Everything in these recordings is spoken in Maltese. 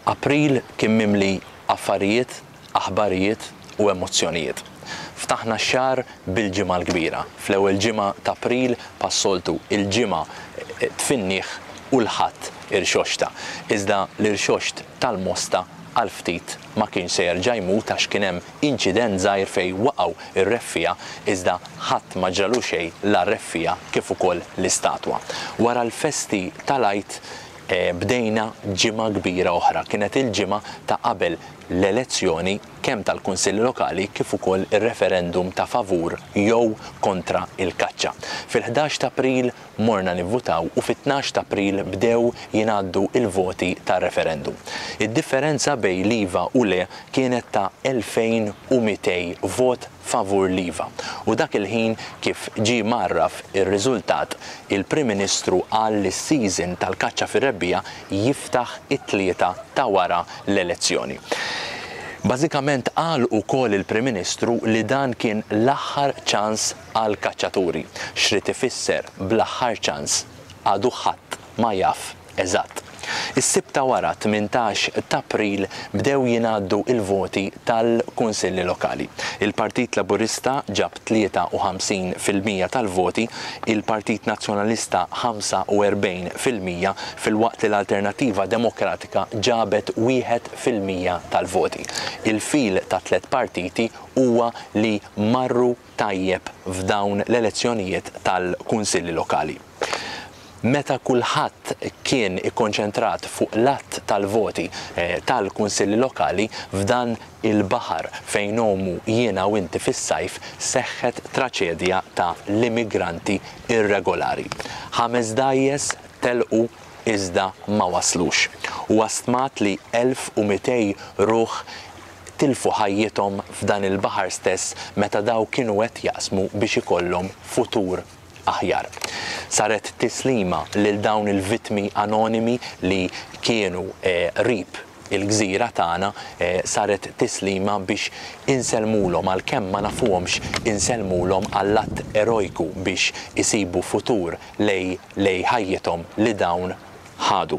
April kien mimli affarijiet, aħbarijiet u emozzjonijiet. Ftaħna x-xahar bil-Ġimgħa l-Kbira. Fl-ewwel ġimgħa t'April, pas-soltu, il-Ġimgħa tfinnieh u l-Ħadd irxoxta. Iżda l-irxoxt tal-Mosta għal ftit Ma kienx se jerġa' jmut għax kien hemm inċident żgħir fejn waqgħu r-reffiegħa iżda ħadd ma ġralu xejn la r-reffiegħa kif ukoll l-istatwa. Wara l-festi tal-Għid bdejna ġimgħa kbira oħra. Kienet il-ġimgħa ta' qabel l-elezzjoni kemm tal-Kunsill Lokali kif ukoll ir-referendum ta' favur jew kontra l-kaċċa. Fil-ħdax t'April morna nivvutaw u fit-tnax t'April bdew jingħaddu l-voti tar-referendum. Id-differenza bejn l-iva u le kienet ta' 2,200 vot favur l-iva u dak il-ħin kif ġie mgħarraf ir-riżultat il-Prim Ministru qal li s-season tal-kaċċa fir-rebbiegħa jiftaħ it-Tlieta ta' wara l-elezzjoni. Bażikament qal ukoll il-Prim Ministru li dan kien l-aħħar ċans għall-kaċċaturi. X'ried ifisser bl-aħħar ċans għadu ħadd ma jaf eżatt. Is-Sibt ta' wara, tmintax t'April, bdew jingħaddu l-voti tal-Kunsilli Lokali. Il-Partit Laburista ġab 53 fil-mija tal-voti, il-Partit Nazzjonalista 45 fil-mija filwaqt li l-Alternattiva Demokratika ġabet wieħed fil-mija tal-voti. Il-fil tat-tliet partiti huwa li marru tajjeb f'dawn l-elezzjonijiet tal-Kunsilli Lokali. Meta kulħadd kien ikkonċentrat fuq l-għadd tal-voti tal-Kunsilli Lokali, f'dan il-baħar fejn ngħumu jiena u inti fis-sajf, seħħet traċedja ta' l-immigranti irregolari. Ħames dgħajjes telqu iżda ma waslux. Huwa stmat li 1,200 ruħ tilfu ħajjithom f'dan il-baħar stess meta dawk kienu qed jaqsmu biex ikollhom futur aħjar. Saret tislima lil dawn il-vittmi anonimi li kienu qrib il-gżira tagħna, saret tislima biex insellmulhom għalkemm ma nafuhomx insellmulhom għall-att erojku biex isibu futur lejn ħajjithom li dawn ħadu.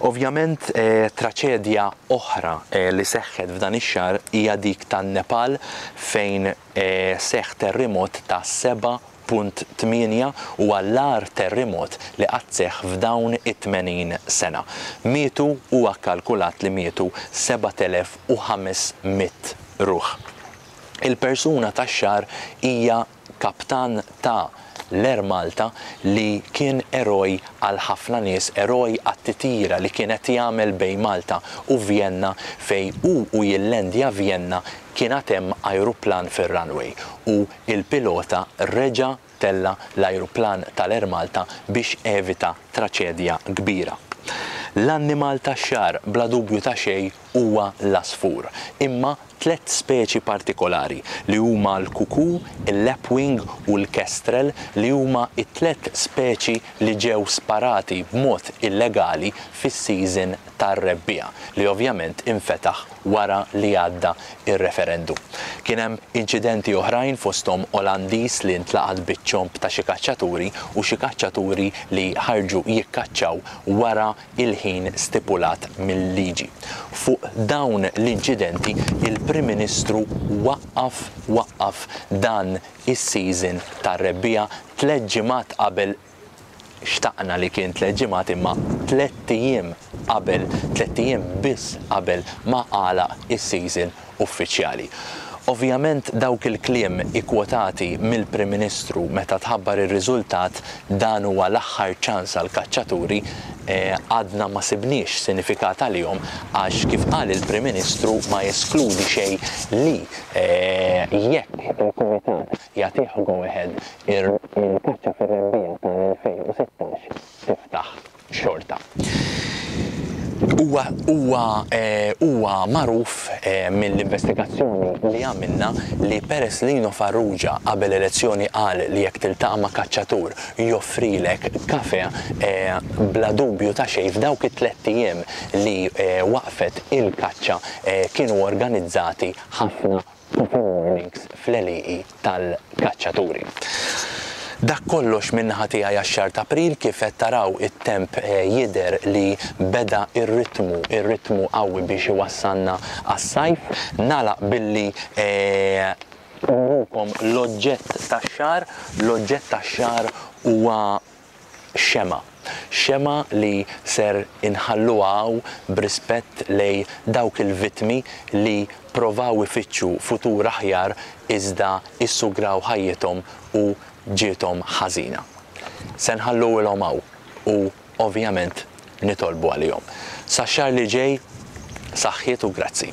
Ovvjament traċedja oħra li seħħet f'dan ix-xahar hija dik tan-Nepal fejn seħħ terrimot ta' 7.8 huwa l-agħar terrimot li qatt seħħ f'dawn it-80 sena. Mietu huwa kkalkulat li mietu 7,500 ruħ. Il-persuna tax-xahar hija kaptan ta' l-Air Malta li kien eroj għal ħafna nies, eroj għat-titjira li kien qed jagħmel bejn Malta u Vjenna fejn hu u jillendja Vjenna kien għad hemm ajruplan fir-runway u l-pilota reġa' tella' l-ajruplan tal-Air Malta biex evita traċedja kbira. L-annimal tax-xagħar bla dubju ta' xejn huwa l-għasfur, imma tliet speċi partikolari, li huma l-kuku, il-lapwing u l-kestrel, li huma t-tliet speċi li ġew sparati b'mod illegali fis-season tar-rebbiegħa, li ovvjament infetaħ wara li għadda r-referendum. Kien hemm inċidenti oħrajn fosthom Olandiż li ntlaqat biċ-ċomb ta' xi kaċċaturi u xi kaċċaturi li ħarġu jikkaċċaw wara il-ħin stipulat mil-liġi. Fuq dawn l-inċidenti il-Prim Ministru waqqaf waqqaf dan is-season tar-rebbiegħa tliet ġimgħat qabel xtaqna li kien tliet ġimgħat imma tlett ijiem qabel, tlett ijiem biss qabel ma għalaq is-season uffiċjali. Ovvjament dawk il-kliem ikkwotati mill-Prim Ministru meta tħabbar ir-riżultat dan huwa l-aħħar ċans għall-kaċċaturi għadna ma sibniex sinifikat għalihom għax kif qal il-Prim Ministru ma jeskludi xejn li jekk il-Kumitat jagħtih go ahead il-kaċċa fir-rebbiegħa tal-2016 tiftaħ. xorta. Huwa huwa huwa magħruf mill-investigazzjoni li għamilna li peress li Lino Farrugia qabel elezzjoni qal li jekk tiltaqa' ma' kaċċatur joffrilek kafè bla dubju ta' xejn f'dawk it-tlett ijiem li waqfet il-kaċċa kienu organizzati ħafna Proper warnings fl-għelieqi tal-kaċċaturi. Dak kollox min-naħa tiegħi għax-xahar t'April, kif qed taraw it-temp jidher li beda r-ritmu, ir-ritmu qawwi biex iwassalna għas-sajf. Nagħlaq billi nurikom l-oġġett tax-xahar, l-oġġett tax-xahar huwa xemgħa. Xemgħa li ser inħalluha hawn b'rispett lejn dawk il-vittmi li provaw ifittxu futur aħjar iżda issugraw ħajjithom u ġiethom ħażina. Se nħalluhilhom hawn u ovvjament nitolbu għalihom. Sax-xahar li ġej, saħħiet u grazzi.